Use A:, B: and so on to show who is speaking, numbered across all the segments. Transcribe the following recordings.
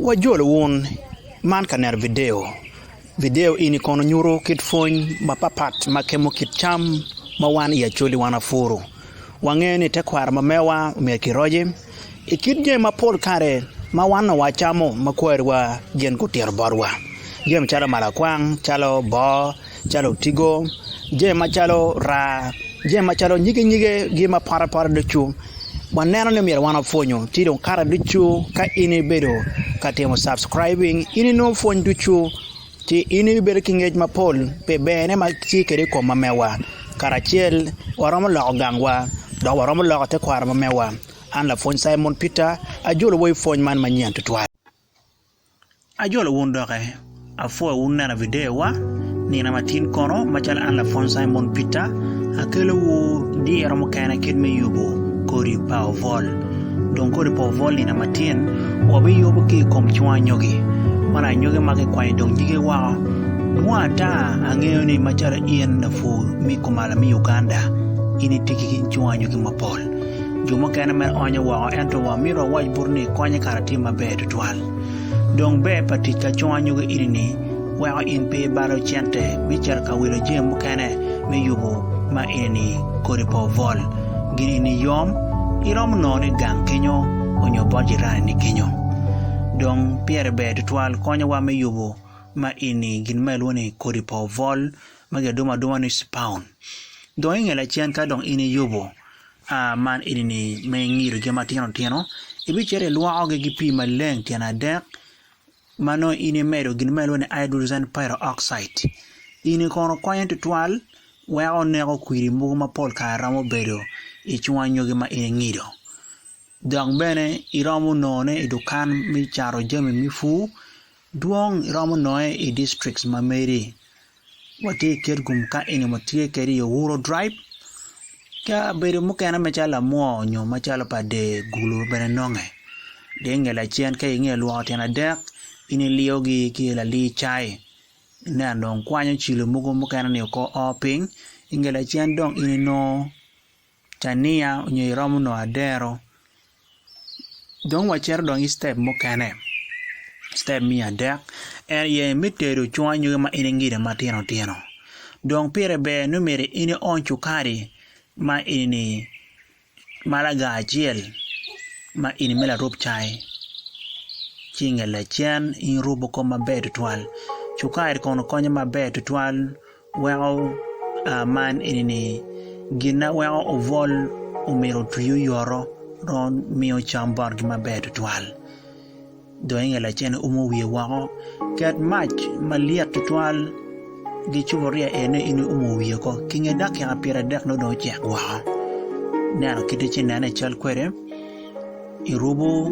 A: Wajolo wun man ka neno video. Video eni kono nyuto kit pwony mapapat ma kemo kit cam ma wan i Acholi wan wapuro. Wangeyo ni tekwaro ma mewa myero kiroce i kit jami ma pol kare ma wan onongo wacamo ma kwariwa gin gutito botwa, jami calo malakwang, calo boo. calo otigo, jami macalo raa, jami macalo nyige nyige gi ma pote pote ducu waneno ni myero wan wapwonyo ci dong kare ducu ka in ibedo ka timo subscribing in inongo pwony ducu ci in ibedo ki ngec mapol pi berne ma tye kwede i kom ma mewa karacel waromo loko gangwa dok waromo loko tekwaro ma mewa an lapwony Cimon Peter ajolo wa i pwony man manyen tutwal. Ajolo wun doke, apwoyo wun neno videowa. Nino ma tin kono, macalo an lapwony Cimon Peter, akelowu diro mukene kit me yubo kodi pa obwol. Dong kodi pa obwol nino ma tin wabiyubo ki i kom cwung anyogi. Man anyogi ma kikwanyo dong nyige woko. Dwong ata, angeyo ni macalo in lapur me kumalo me Uganda, in itye ki cwung anyogi mapol. jo mukene me onye woko ento wamito wawac butu ni konye kara tye maber tutwal. Dong ber pa tic ka cong anyogi eni ni weko in pe ibalo cente me cito ka wilo jami mukene me yubu ma eni ni kodi pe obwol gin eni ni yom iromo nongo ni gang kenyo onyo bot jirani ni kenyo. Dong pire ber tutwal konye wa me yubu ma eni ni gin ma ilwongo ni kodi pe obwol ma gi adumo aduma ni spawn dong inge lacen ka dong in iyubu A Man eni-ni ma ingido gin matino tino, ibicito ilwokogi ki pii maleng tyen adek, ma nongo in imedo gin ma ilwongo ni hydrogen peroxide. Eni kono konyo tutwal weko neko kwidi mogo ma pol kare romo bedo i cung anyogi ma in ingido. Dok bene iromo nongone i dukan me cato jami me pur Dwong iromo nonge i districts ma medi. Watye i Kitgum ka eni watye kede i Owuro dribe. Kabedo mukene macalo Lamwor nyo macalo pa Dee Gulu bene nonge. Dee nge lacen ka inge lwoko tyen adek in iliyogi ki i Lalii Cai ineno dong kwanyo cilo mogo mukene ni oko oo piny. Inge lacen dong in inongo. Tania onyo iromo nongo adero dong wacito dong ki step mukene step me adek en aye me tedo cung anyogi ma in ingido matino tino dong pire ber ni myero in iony cukari ma eni ni malaga acel ma eni me larub cai ci inge lacen irubo kong maber tutwal cukari kono konyo maber tutwal Weko man eni ni, Gin ma weko obwol omyero otwi oyoto dong miyo cam botgi maber tutwal. Dong inge lacen-ni umo wiye woko. Ket mac malyet tutwal gi cupuria en aye in iumo wiye woko. I nge dakika pyeradek nongo dong ocek woko. Ineno kite ci inene i cal kwede. irubo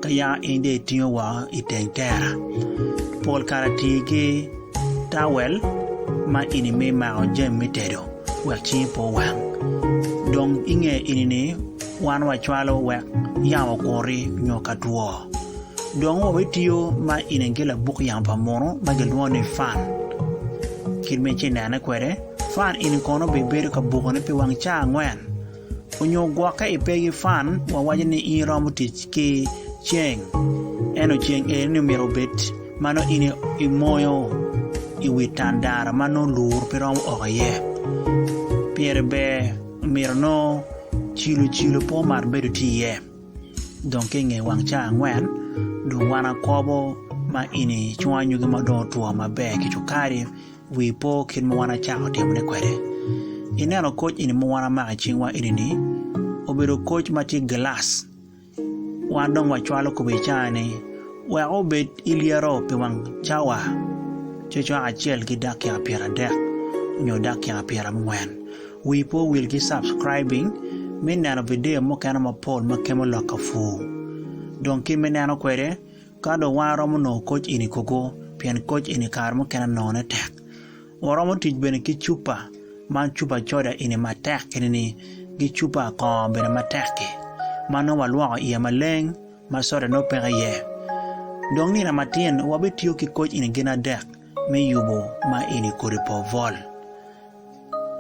A: ka ya in dong itingo woko i teng tela pol kare ti ki tawel ma ini me mako jami me tedo wek cingi pe owang dong inge ini ni wan wacwalo wek yamo okuri nyo ka two dong wabitiyo ma ini ki labuk yamo pa muno ma kilwongo ni fan kit ma ici nene kwede fan ini kono bibedo ka bukone pi wang cawa angwen Onyo gwokke i pegi fan wa waco ni in iromo tic ki ceng eno ceng eni ni myero obed ma nongo in i moyo i wi tandaro ma nongo lur pe romo oko iye pire ber myero nongo cilo cilo pe omar bedo tye iye dong ki nge wang cawa angwen dong wan akobo ma eni cungo anyogi ma dong otwo maber ki cukari Wii po kit ma wan acako timone kwede. I neno koc eni ma wan amako i cingwa eni ni obedo koc ma tye gilac. Wan dong wacwalo kome i caa ni weko obed ilyero pi wang cawa cecwaka acel ki dakika pyer adek nyo dakika pyer angwen. Wii po wil ki subscribing me neno video mukene mapol ma kemo lok ka pur. Dong kit me neno kwede. Ka dong wan aromo nongo koc eni kogo pien koc eni kare mukene nongone tek. Waromo tic bene ki cupa ma cupa coda eni matek kene ni ki cupa kongo bene matek-ki ma nongo walwoko iye maleng ma soda nongo peke iye. Dong nino matin wabitiyo ki koc eni gin adek me yubo ma eni kodi povol.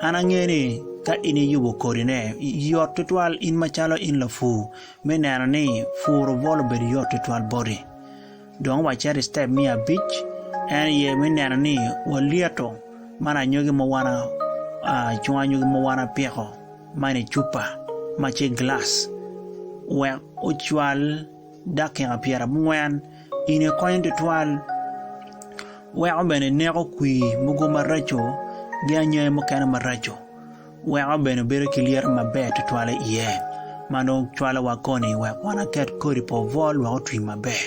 A: An angeyo ni ka in iyubo kodine, yot twatwal in macalo in lapur me neno ni pur obwol obedo yot twatwal boti. Dong wacit i citep me abic, en aye me neno ni walyeto man anyogi ma wan acunga anyogi ma wan apiko man i cupa ma tye i gilac wek ocwal. dakika pyerabongwen ine konyo tutwal weko bene neko kwir mogo maraco gi anyai mukene maraco weko bene wabedo ki lyeto maber tutwal i iye ma nongo cwalo wa koni wek wan waket kodi pa obwol wek otwi maber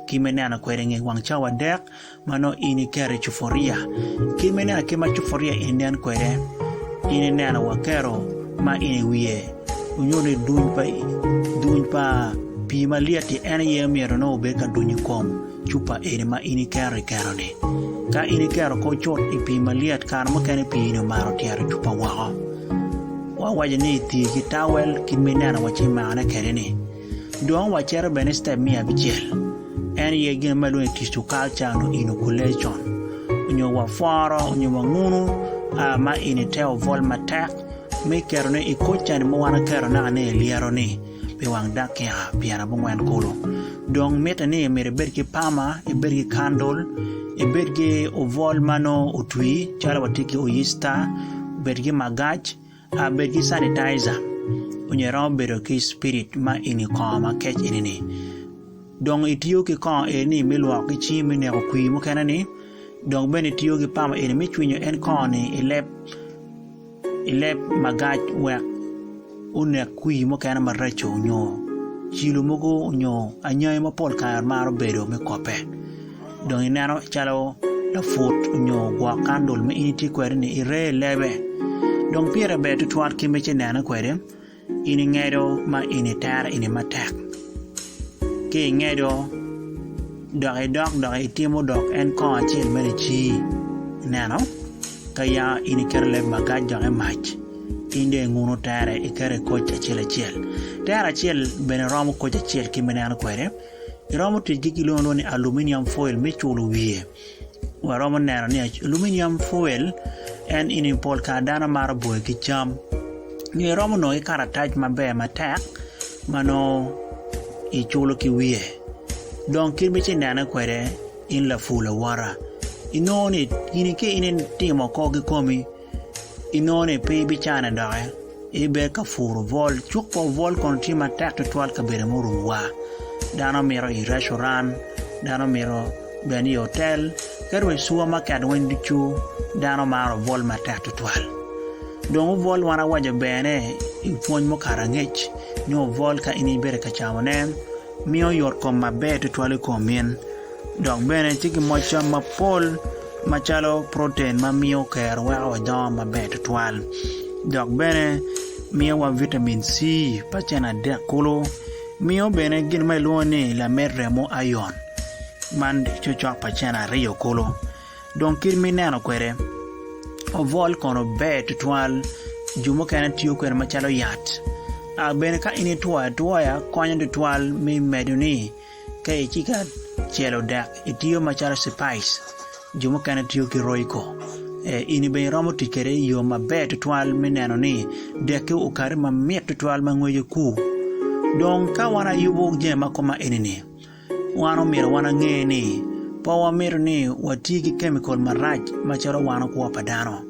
A: ki me neno kwede nge wang cawa adek Ma nongo in iketo i cupuria. Kema ineno akema cupuria en nen kwede, in ineno wa kero ma in i wiye onyo ni duny pa duny pa pii malyet-ti en aye myero nongo obed ka duny i kom cupa eni ma in iketo i keno-ni. Ka in iketo kong cut i pii malyet kare mukene pii-ni omaro otyero cupa woko. Wawaco ni iti ki tawel kit ma ineno wa ci imakone kwede-ni. Dong wacito bene i citep me abicel, en aye gin ma ilwongo ni Tissue Culture nyo Inoculation, nyo wapworo nyo wangunu ma inite obwol matek me ketone i kor candi ma wan waketo naka ni ilyeroni pi wang dakika pyer abongwen kulu. Dong mitte ni myero ibed ki pama, ibed ki kandul, ibed ki obwol ma nongo otwi calo watye ki oyicita, bed ki magac. A Bed ki Sanitizer, Onyo iromo bedo ki spirit ma inge kongo ma kec eni ni. Dong itiyo ki kongo eni me lwoko ki cingi me neko kwir mukene ni. Dong bene itiyo ki pama eni me cwinyo en kongo ni i leb i leb magac wek onek kwir mukene maraco onyo cilo mogo onyo anyangi ma pol kare maro bedo me kope. Dong ineno calo laput onyo gwok kandul ma in itye kwede-ni ire i lebe. Dong pire ber tutwal kit ma ineno kwede, in ingedo ma in itero ini matek. Ka ingedo dok idok dok itimo dok en kong acel meno icii, ineno? Ka ya in iketo leb magac dok imac, in dong inguno tere iketo i koc acel acel. Tero acel bene romo koc acel kit ma ineno kwede. Iromo tic gi gilwongo lwongo ni aluminium foil me culo wiye. Waromo neno ni aluminium foil en ini pol kare dano maro boyo ki cam. Nyo iromo nongo ki karatac maber matek ma nongo iculo ki wiye. Dong kit ma ci nene kwede in lapur lawota inongo ni gini ka in itimo oko kikomi inongo ni pe ibicane doki ibed ka puro bwol cuk pa obwol kono tye matek tutwal i kabedo murumo wa dano mito i recuran dano mito bene i otel ki dong i cuwa maket weng ducu dano maro bwol matek tutwal dong obwol wan awaco bene i pwony mukato angec ni obwol ka in ibedo ka camone miyo yot kom maber tutwal i kom in. Dok bene tye ki moc cam mapol macalo proten ma miyo kero weko wadongo maber tutwal dok bene miyowa vitamin C pa cen adek kulu miyo bene gin ma kilwongo ni lamed remo iron man cocok pa cen aryo kulu dong kit ma ineno kwede obwol kono ber tutwal jo mukene tiyo kwede macalo yat bene ka in itwoyo atwoya konyo tutwal me medoni. Ka i cika celo dek itiyo macalo cipice, jo mukene tiyo ki Royco. E, ini bene iromo tic kede i yo maber twatwal me neno ni dekki okati ma mit twatwal ma ngwece ku. Dong ka wan ayubu jami ma koma enini, wan omyero wan ange ni pe wamito ni wati ki kemikol marac macalo wano kwo pa dano.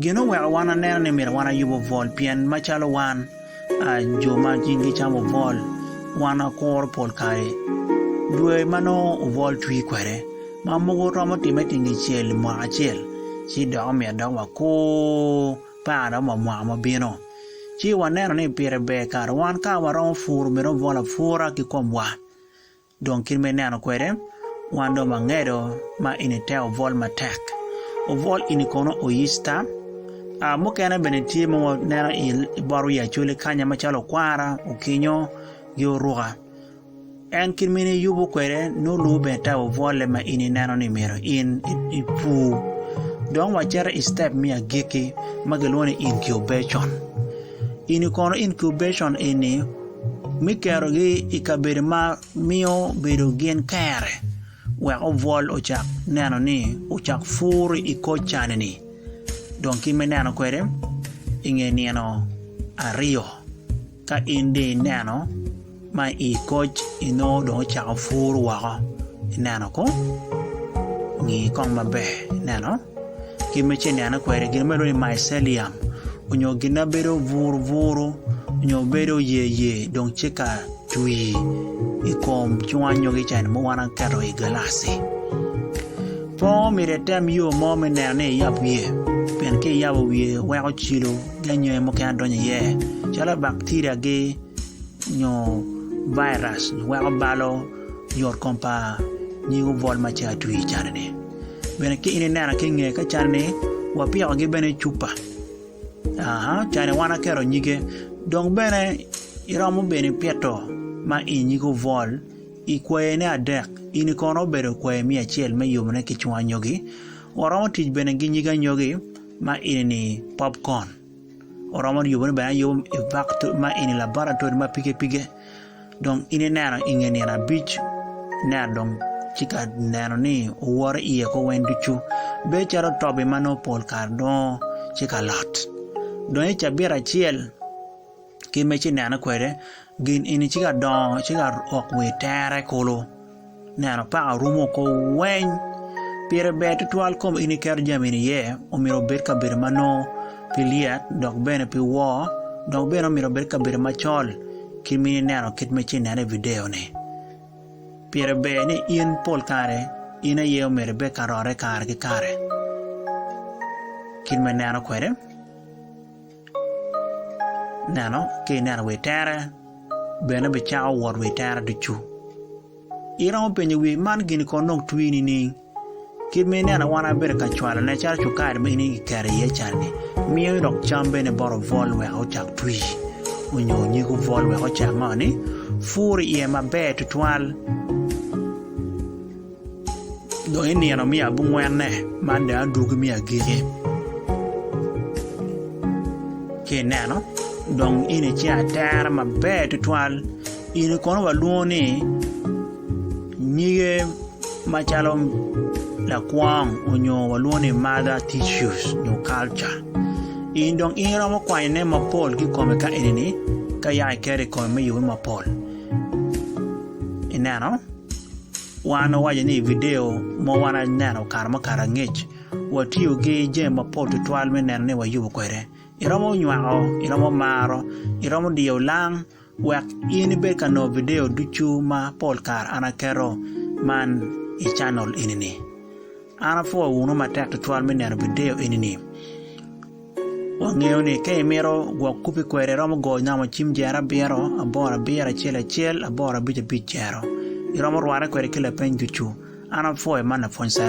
A: Gin oweko wan aneno ni myero wan ayub obwol pien macalo wan jo ma cing gicamo obwol wan wakuro pol kare dwe ma nongo obwol twi kwede ma mogo romo time tengecel i mwaka acel ci dok omyero dok wakur par dok wa mwaka ma bino ci waneno ni pire ber kare wan ka waromo puro myero wabwol apura ki komwa. Dong kit ma ineno kwede, wan dong wangedo ma ini te obwol matek. Obwol ini kono oyicta. A mukene bene tye ma waneno i bot wi Acholi kanya macalo okwara, okinyo, gi oruka. En kit ma in iyubo kwede nongo lubo bene te obwolle ma in ineno ni myero in ipur. Dong wacito i citep me agikki ma kilwongo ni incubation. In ikono incubation eni me kerogi i kabedo ma miyo bedo gin kere wek obwol ocak neno ni ocak pur i kor cani-ni dong ki me neno kwede i nge nino aryo ka in dong ineno ma i koc inongo dong ocako puru woko ineno ko ngi kong maber ineno kit ma ci inene kwede gin ma ilwongo ni mycelium onyo gin ma bedo buru buru onyo bedo yer yer dong tye ka twi i kom cung anyogi ca ma wan waketo i gilaci pe myero item yo mo me neno ni iyab wiye pien ka iyabo wiye weko cilo ki anyogi mukene donyo iye calo bacteria gi nyo virus nyo weko balo yot kom pa nying obwol ma ce atwi i cani ni bene ki in inena ki nge ka cani ni wa piko gi bene cupa aa cani wan aketo nyige dong bene iromo bene ipito ma i nyig obwol i kwaye ne adek ini kono obedo kwayi me acel me yobo ne ki cung anyogi wa romo tic bene ki nyig anyogi ma ini ni popcorn oromo yubo ni bene ayubo i bak ma eni laboratory ma pige pige dong in ineno i nge nino abic neno dong ci ka neno ni oworo iye ko weng ducu bedo calo tobi ma nongo pol kare dongo ci ka lot dong i cabit acel ki me ci nene kwede gin eni ci ka dongo ci ka oko wa itere kulu neno paka rumo oko weng pire ber tutwal kong in iketo jami ni iye omyero obed kabedo ma nongo pe lyet dok bene pe wor dok bene omyero obed kabedo macol ki ma ineno kit ma ci nene i video ni pire ber ni in pol kare in aye omyero ibed ka rore kare ki kare kit ma ineno kwede. Neno ka ineno wa i tere, bene bicako wot wa i tere ducu. Iromo penyo wii man gini kono dong twi nining? Kit ma inena wan abedo ka cwalone calo cukari ma in iketo iye cani miyo dok cam bene bot obwol wek ocak twi onyo nyig obwol wek ocak ngo ni puru iye maber tutwal. Dong i nino me abungwenne, man dong adwogi me agikki. Ka ineno, dong eni tye atera maber tutwal. Eni kono walwongo ni nyige macalo lakwong onyo walwongo ni mother tissues nyo culture. Eni dong in iromo kwanyone mapol ki kome ka enini ka yaka iketo i kome me yubbe mapol. Ineno? Wan wawaco ni i vidio ma wan aneno kare mukato angec, watiyo ki jami mapol tutwal me neno ni wayubo kwede. Iromo nywako, iromo maro, iromo diyo olang wek in ibed ka nongo vidio ducu ma pol kare an aketo man i canel eni-ni. An apwoyo wunu matek tutwal me neno vidio eni-ni. Wangeyo ni ka imito gwok kupi kwede iromo go nyamo cim jero abiro, aboro abiro acel acel, aboro abic abic jero. Iromo rwate kwede ki lapeny ducu. An apwoyo man lapwony Cyrus.